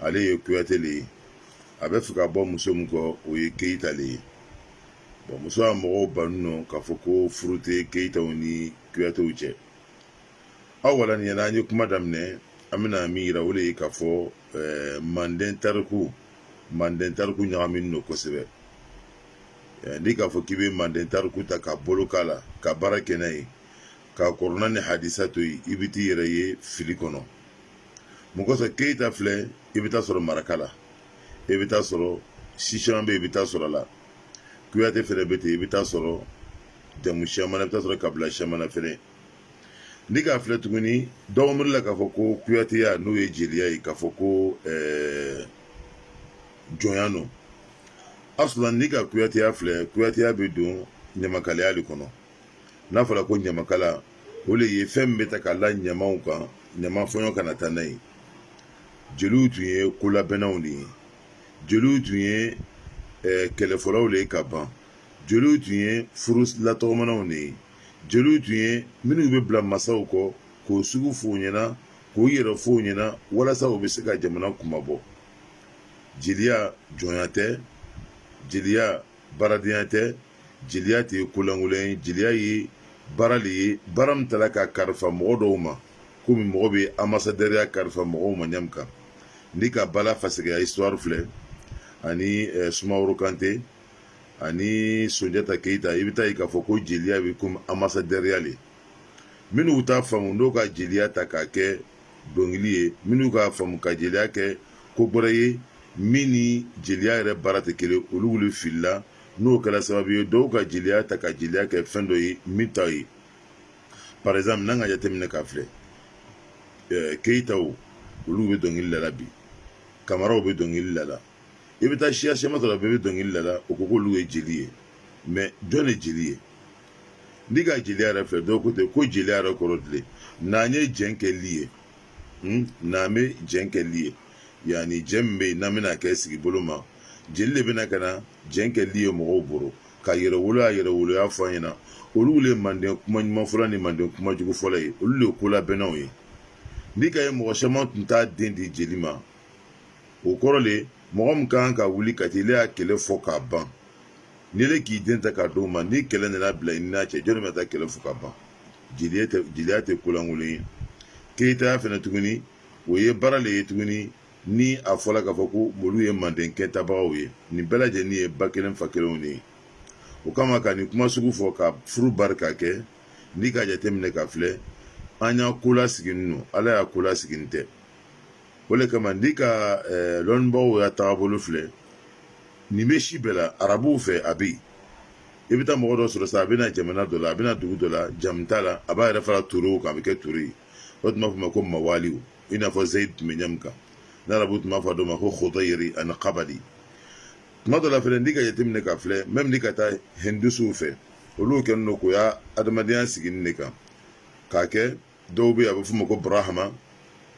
ale ye kuyate le ye a bɛ fɛ ka bɔ muso min kɔ o ye keyita le ye bɔn muso y'a mɔgɔw banni no k'a fɔ ko furu tɛ keyitaw ni kuyatew cɛ awala nin y'an ye kuma daminɛ an bɛna min yira o le ye k'a fɔ eh, manden tariku manden tariku ɲagaminen don kosɛbɛ eh, n'i k'a fɔ k'i bɛ manden tariku ta ka bolo k'a la ka baara kɛ n'a ye ka kurana ni hadisa to yen i bɛ t'i yɛrɛ ye fili kɔnɔ mun kosɔn keyita filɛ i bɛ taa sɔrɔ maraka la i bɛ taa sɔrɔ si siyaman bɛ yen i bɛ taa sɔrɔ a la kuyate fɛnɛ bɛ ten i bɛ taa sɔrɔ jamu siyaman na i bɛ taa sɔrɔ kabila siyaman na fɛnɛ n'i k'a filɛ tuguni dɔw miiri la k'a fɔ ko kuyateya n'o ye jeliya ye k'a fɔ ko ɛɛ eh, jɔnya no asulan n'i ka kuyateya filɛ kuyateya bɛ don ɲamakalaya le kɔnɔ n'a fɔra ko ɲamakala o le ye fɛn min bɛ ta ka la ɲamaw kan ɲama fɔɲɔ kana taa n'a ye jeliw tun ye kolabɛnnaw le ye jeliw tun ye eh, kɛlɛfɔlaw le ye ka ban jeliw tun ye furusira tɔgɔmanaw le ye jeliw tun ye minnu bɛ bila masaw kɔ k'o sugu f'u ɲɛna k'u yɛrɛ f'u ɲɛna walasa u bɛ se ka jamana kunmabɔ jeliya jɔnya tɛ jeliya baaradenya tɛ jeliya tɛ ye ko lankolon ye jeliya ye baara le ye baara min tala ka kalifa mɔgɔ dɔw ma komi mɔgɔ bɛ anbasadɛriya kalifa mɔgɔw ma ɲa min kan n'i ka bala fasɛkɛ ya histoire filɛ ani eh, sumaworo kante ani sunjata keyita i bɛ t'a ye k'a fɔ ko jeliya bɛ komi anbasadɛriya le minnu t'a faamu n'o ka jeliya ta k'a kɛ dɔnkili ye minnu k'a faamu ka jeliya kɛ ko gbɛrɛ ye min ni jeliya yɛrɛ baara tɛ kelen olugu le filila n'o kɛla sababu ye dɔw ka jeliya ta ka jeliya kɛ fɛn dɔ ye min t'a ye par exemple n'an ka jateminɛ k'a filɛ eh, keyitaw olugu bɛ dɔnkili lala bi kamaraw bɛ dɔnkili lala i bɛ taa siya siyaman sɔrɔ bɛɛ bɛ dɔnkili lala o ko k'olugu ye jeli ye mais jɔn le jeli ye N'i ka jeli yɛrɛ filɛ dɔw ko ten ko jeli yɛrɛ kɔrɔ di le n'an ye jɛn kɛli ye hmm? n'an bɛ jɛn kɛli ye yanni jɛn min bɛ yen n'an bɛna kɛ sigi bolo ma jeli le bɛna ka na jɛn kɛli ye mɔgɔw bolo ka yɛrɛwolo a yɛrɛwoloya fɔ an ɲɛna olu le manden kuma ɲuman fɔla ni manden kuma jugu fɔla ye olu le kolabɛnnaw ye n'i k'a ye mɔgɔ siyaman tun t'a den di jeli ma o kɔrɔ le mɔgɔ min ka kan ka wuli ka t'ile ya kɛlɛ fɔ k'a ban n'ile k'i den ta k'a d'o ma ni kɛlɛ nana bila i n'a cɛ jɔni bɛ taa kɛlɛ fɔ k'a ban jeliya tɛ ko lankolon ye keyitaya fɛnɛ tuguni o ye baara le ye tuguni ni a fɔla k'a fɔ ko olu ye manden kɛntabagaw ye nin bɛɛ lajɛlen ye ba kelen fa kelenw le ye o kama ka nin kuma sugu fɔ ka furu bari ka kɛ n'i ka jateminɛ k'a filɛ an ya ko lasiginin no ala ya ko lasiginin tɛ o de kama n'i ka eh, lɔnnibagaw ya taabolo filɛ nin bɛ si bɛɛ la arabuw fɛ a bɛ yen i bɛ taa mɔgɔ dɔ sɔrɔ sisan a bɛ na jamana dɔ la a bɛ na dugu dɔ la jamu t'a la a b'a yɛrɛ fara turew kan a bɛ kɛ ture ye o tun b'a fɔ ma ko mawaliw i n'a fɔ zayid tun bɛ ɲa min kan n'arabu tun b'a fɔ dɔ ma ko khudayri ani kabali tuma dɔ la fɛnɛ n'i k'a jateminɛ k'a filɛ même n'i ka taa hindusuw fɛ olu kɛlen don k'u ya adamadenya sigi nin de kan k'a kɛ dɔw bɛ a bɛ f'o ma ko burahama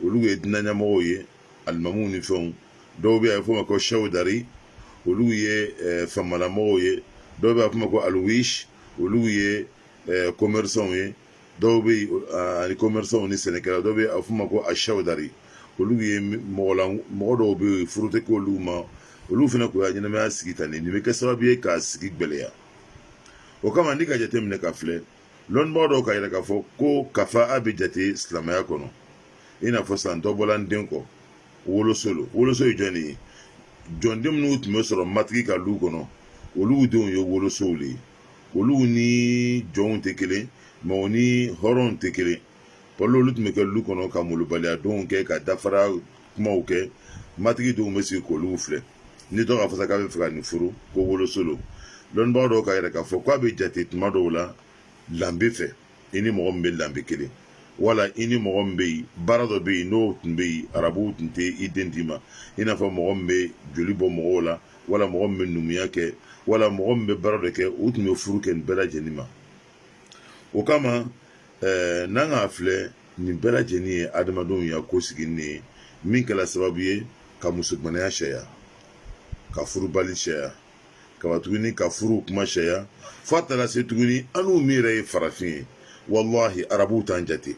olu ye diinɛ ɲamɔgɔw ye alimamuw ni fɛnw dɔw bɛ a bɛ f'o ma ko sɛwdari olu ye eh, famalamɔgɔw ye dɔw bɛ a bɛ f'o ma ko aluwisi olu ye eh, commerçants ye dɔw bɛ yen eh, ani commerçants ni sɛnɛkɛla dɔw bɛ yen a bɛ f'o ma ko asɛwdari olu ye mɔgɔ la mɔgɔ dɔw bɛ yen furu tɛ k'olu ma olu fana k'u ya ɲɛnamaya sigi tan de nin bɛ kɛ sababu ye ka sigi gɛlɛya o kama n'i k'a jateminɛ k'a filɛ lɔnnibaga dɔw k'a yira k'a fɔ ko kafa a bɛ jate silamɛya kɔnɔ i n'a fɔ san dɔ bɔla n den kɔ woloso lo woloso ye jɔn de ye jɔnden minnu tun bɛ sɔrɔ matigi ka lu kɔnɔ olu denw ye wolosow de ye olu ni jɔnw tɛ kelen mais u ni hɔrɔnw tɛ kelen bawo olu tun bɛ kɛ lu kɔnɔ ka molobaliya donw kɛ ka dafara kumaw kɛ matigi denw bɛ sigi k'olu filɛ ni dɔ k'a fɔ sa k'a b'a fɛ ka nin furu ko woloso lo lɔnnibaga dɔw k'a yira k'a fɔ k'a bɛ jate tuma dɔw la lanbe fɛ i ni mɔgɔ min bɛ lanbe kelen wala i ni mɔgɔ min bɛ yen baara dɔ bɛ yen n'o tun bɛ yen arabuw tun tɛ i den d'i ma i n'a fɔ mɔgɔ min bɛ joli bɔ mɔgɔw la wala mɔgɔ min bɛ numuya kɛ wala mɔgɔ min bɛ baara dɔ kɛ u tun bɛ furu kɛ nin bɛɛ lajɛlen ma o kama ɛɛ n'an k'a filɛ nin bɛɛ lajɛlen ye adamadenw ya ko sigini de ye min kɛra sababu ye ka musomanaya sariya ka furubali sariya ka ban tuguni ka furu kuma sariya fo a taara se tuguni annu min yɛrɛ ye farafin ye walahi arabuw t'an jate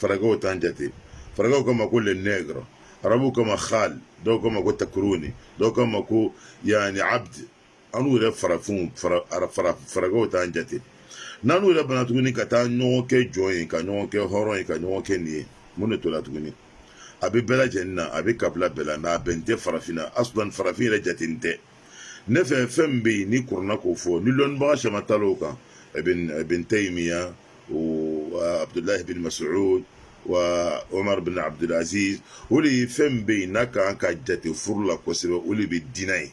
faragɛw t'an jate faragɛw k'an ma ko le nègre arabuw k'an ma khal dɔw k'an ma ko takuruni dɔw k'an ma ko yani abd annu yɛrɛ farafinw fara fara faragɛw t'an jate n'annu yɛrɛ bana tuguni ka taa ɲɔgɔn kɛ jɔn ye ka ɲɔgɔn kɛ hɔrɔn ye ka ɲɔgɔn kɛ nin ye mun de tora tuguni a bɛ bɛɛ lajɛlen na a bɛ kabila bɛɛ la mais a bɛn tɛ farafinna asulan farafin yɛrɛ jatenin tɛ ne fɛ fɛn min bɛ yen ni kurana k'o fɔ ni lɔnnibaga caman taal'o kan bin tayimiya wa abudulayi bin masuud wa omar bin abudulaziz o de ye fɛn min bɛ yen n'a kan ka jate furu la kosɛbɛ o de bɛ diinɛ ye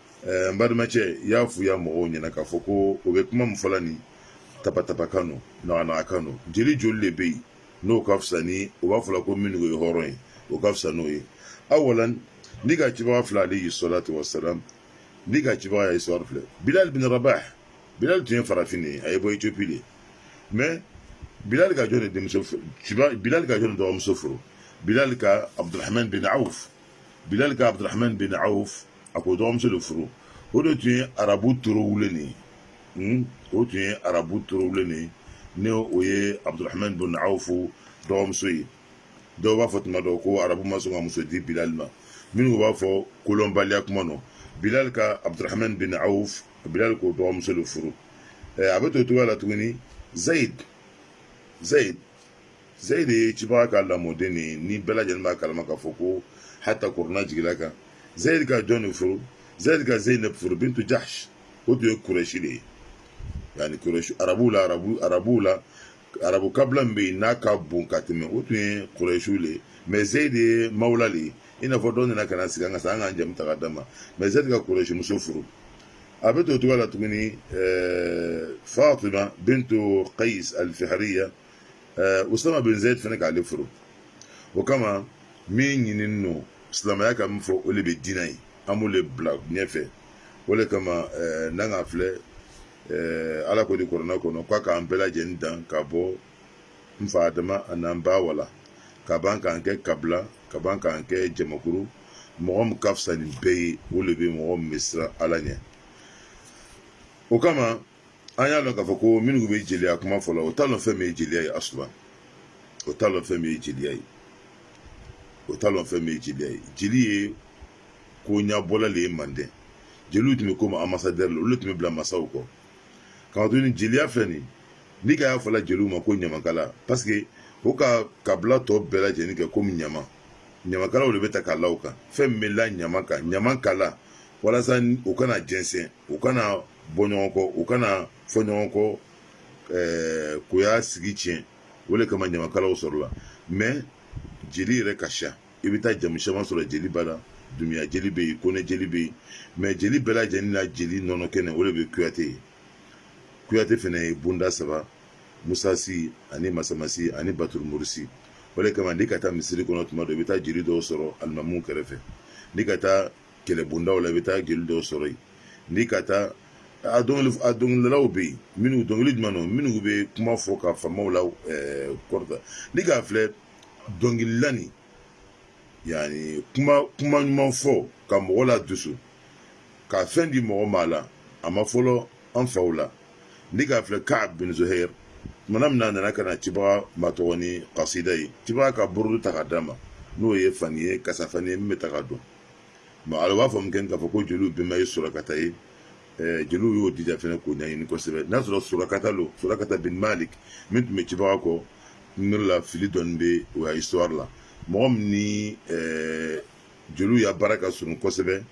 n balimacɛ i y'a f'u ya mɔgɔw ɲɛna k'a fɔ ko o bɛ kuma min fɔla nin tapatapakan no naganagakan no jeli joli de bɛ yen n'o ka fisa ni o b'a fɔla ko minnu ye hɔrɔn ye o ka fisa n'o ye awalan n'i ka cibaga filɛ alayhi salatu wasalam n'i ka cibaga ya histoire filɛ bilal bin rabah bilal tun ye farafin de ye a ye bɔ ethiopie de mais bilal ka jɔn de denmuso bilal ka jɔn de dɔgɔmuso furu bilal ka abdurahman bin auf bilal ka abdurahman bin auf a k'o dɔgɔmuso de furu o de tun ye arabu torowulen nin ye o tun ye arabu torowulen nin ye ni o ye abdurahman bin auf dɔgɔmuso ye dɔw b'a fɔ tuma dɔ ko arabu ma sɔn ka muso di bilal ma minnu b'a fɔ kolɔnbaliya kuma nɔ bilal ka abdurahman bin auf bilal k'o dɔgɔmuso de furu a bɛ to cogoya la tuguni zayid zayid zayid ye cibaga ka lamɔden de ye ni bɛɛ lajɛlen b'a kalama k'a fɔ ko hata kurana jigil'a kan zayid ka jɔn de furu zayid ka zeynab furu bintu jahsh o tun ye kurɛsi de ye yani kurɛsi arabuw la arabu arabuw la arabu kabila min bɛ yen n'a ka bon ka tɛmɛ o tun ye kurɛsiw de ye mais zayid de ye mawula de ye i n'a fɔ dɔ nana ka na sigi an ka so an k'an jamu ta ka d'a ma mais zayid ka kurɛsi muso furu a bɛ to o cogoya la tuguni ɛɛ fatima bintu qais alfihriya ɛɛ usama bin zayd fana k'ale furu o kama min ɲinini no silamɛya ka min fɔ o de bɛ diinɛ ye an b'o de bila ɲɛfɛ o de kama ɛɛ n'an k'a filɛ ɛɛ ala ko di kurana kɔnɔ k'a k'an bɛɛ lajɛlen dan ka bɔ n fa adama an'an ba awa la ka ban k'an kɛ kabila ka ban k'an kɛ jamakuru mɔgɔ min ka fisa ni bɛɛ ye o de bɛ mɔgɔ min bɛ siran ala ɲɛ o kama an y'a dɔn k'a fɔ ko minnu bɛ jeliya kuma fɔ la o t'a dɔn fɛn min ye jeliya ye asuman o t'a dɔn fɛn min ye jeliya ye o t'a dɔn fɛn min ye jeliya ye jeli ye ko ɲɛbɔla de ye manden jeliw tun bɛ komi ambasadɛri la olu de tun bɛ bila masaw kɔ k'a to ni jeliya filɛ nin ni ka y'a fɔla jeliw ma ko ɲamakala paseke o ka kabila tɔ bɛɛ lajɛlen kɛ komi ɲama ɲamakalaw de bɛ ta k'a la o kan fɛn min bɛ la ɲama kan ɲama kala walasa u kana jɛnsɛn u kana bɔ ɲɔgɔn kɔ u kana fɔ ɲɔgɔn kɔ ɛɛ k'u ya sigi tiɲɛ o de kama ɲamakalaw sɔrɔla mais jeli yɛrɛ ka siya i bɛ taa jamu caman sɔrɔ jeli b'a la dunbuya jeli bɛ yen kone jeli bɛ yen mais jeli bɛɛ lajɛlen na jeli nɔnɔ kɛnɛ o de bɛ kuyate ye kuyate fana ye bonda saba musasi ani masamasi ani baturumurisi o de kama n'i ka taa misiri kɔnɔ tuma dɔ i bɛ taa jeli dɔw sɔrɔ alimamu kɛrɛfɛ n'i ka taa kɛlɛbondaw la i bɛ taa jeli dɔw sɔrɔ yen n'i ka taa a dɔnkili a dɔnkilidalaw bɛ yen minnu dɔnkili jumɛn don minnu bɛ kuma fɔ ka faamaw la ɛɛ kɔrɔta n'i k'a filɛ dɔnkilila nin yanni kuma kuma ɲuman fɔ ka mɔgɔ ladusu ka fɛn di mɔgɔ ma la a ma fɔlɔ an faw la n'i k'a filɛ ka'ab bin zuhɛr tumana min na a nana ka na cibaga matɔgɔ ni kasida ye cibaga ka burudu ta ka d'a ma n'o ye fani ye kasafani ye min bɛ ta ka dɔn a b'a fɔ min kɛ k'a fɔ ko jeliw bɛnba ye surakata ye jeliw y'o dija fɛnɛ k'o ɲɛɲini kosɛbɛ n'a sɔrɔ surakata don surakata bin malik min tun bɛ cibaga kɔ ne la fili dɔɔni bɛ o ya histoire la mɔgɔ min ni jeliw ya baara ka surun kosɛbɛ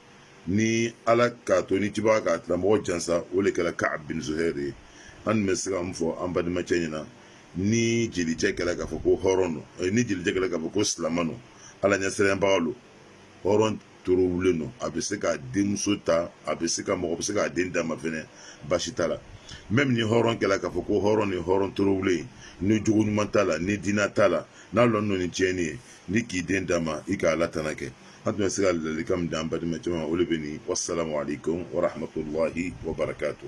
ni ala k'a to ni cibaga k'a tigilamɔgɔ jansa o de kɛra ka'ab bin zuhɛri ye an tun bɛ se ka mun fɔ an badimacɛ ɲɛna ni jelicɛ kɛra k'a fɔ ko hɔrɔn don ni jelicɛ kɛra k'a fɔ ko silamɛ don ala ɲɛsiranɲɛbaga don hɔrɔn torowulen don a bɛ se ka denmuso ta a bɛ se ka mɔgɔ bɛ se k'a den d'a ma fɛnɛ baasi t'a la même ni hɔrɔn kɛla k'a fɔ ko hɔrɔn ni hɔrɔn torowulen ni jogo ɲuman t'a la ni diina t'a la n'a lɔnna ni tiɲɛni ye n'i k'i den d'a ma i ka ala tana kɛ an tun bɛ se ka ladilikan min d'an badimacɛ ma o de bɛ nin wasalamu aleykum warahmatulahi wabarakatu